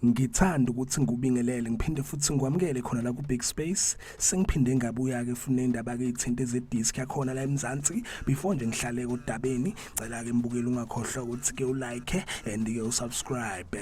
ngithanda ukuthi ngikubingelele ngiphinde futhi ngikwamukele khona la ku-big space sengiphinde ngabuya-ke funa indaba-ke ithinte zedisk yakhona la emzansi before nje ngihlale kodabeni cela-ke mbukeli ungakhohlwa ukuthi-ke ulike and-ke usubscribe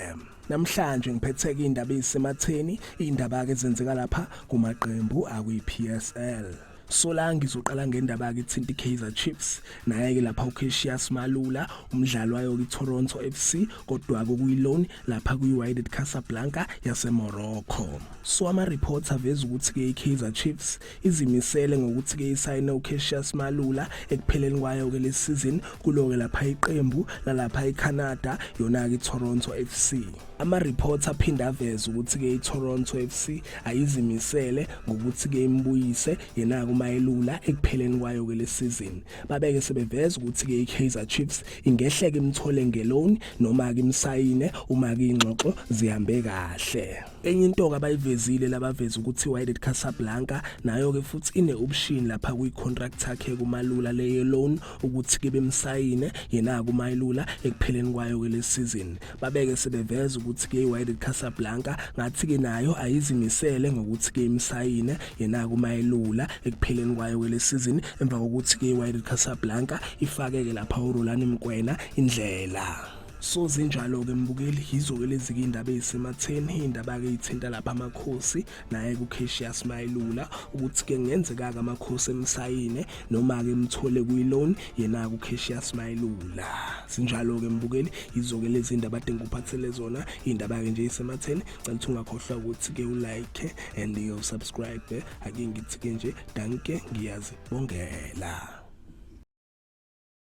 Namhlanje ngiphetheke indaba ezisematheni indaba ke zenzeka lapha kumaqembu akwi PSL. Sola ngizoqala ngendaba ke thinti Kaizer Chiefs naye ke lapha uCassius Malula umdlalo wayo ke Toronto FC kodwa ke kuyi loan lapha kuyi Wydad Casablanca yaseMorocco. So ama reports aveza ukuthi ke iKaizer Chiefs izimisele ngokuthi-ke isayine ucassius malula ekupheleni kwayo-ke le season kulo-ke lapha iqembu lalapha ecanada yona-ke itoronto f c ama-report aphinde aveze ukuthi-ke itoronto f c ayizimisele ngokuthi-ke imbuyise yena-ke umayelula ekupheleni kwayo-ke le season babeke sebeveza ukuthi-ke i-kaizer chiefs ingehleke imthole ngeloni noma-ke imsayine uma-ke iy'ngxoxo zihambe kahle enye into-ke abayivezile labaveza ukuthi i-wydad casablanca nayo-ke futhi ine option lapha kwi-contract yakhe kumalula leye loan ukuthi ke bemsayine yena kumayilula ekupheleni kwayo-ke le season babeke sebeveza ukuthi ke i-wydad casablanca ngathi-ke nayo ayizimisele ngokuthi ke imsayine yena kumayilula ekupheleni kwayo-ke le season emva kokuthi ke i-wydad casablanca ifake-ke lapha urolani mkwena indlela So zinjalo-ke mbukeli yizo-ke lezi-ke iy'ndaba ey'sematheni iy'ndaba-ke ey'thinta lapha amakhosi naye kucasius mayelula ukuthi-ke ngenzeka-ke amakhosi emsayine noma-ke emthole kwi-loan yena-ke ucasius mayelula sinjalo-ke mbukeli yizo-ke lezi ndaba ade ngikuphathele zona iy'ndaba-ke nje ey'sematheni cela ukuthi ungakhohlwa ukuthi-ke ulike and usubscribe ake ngithi-ke nje danke ngiyazibongela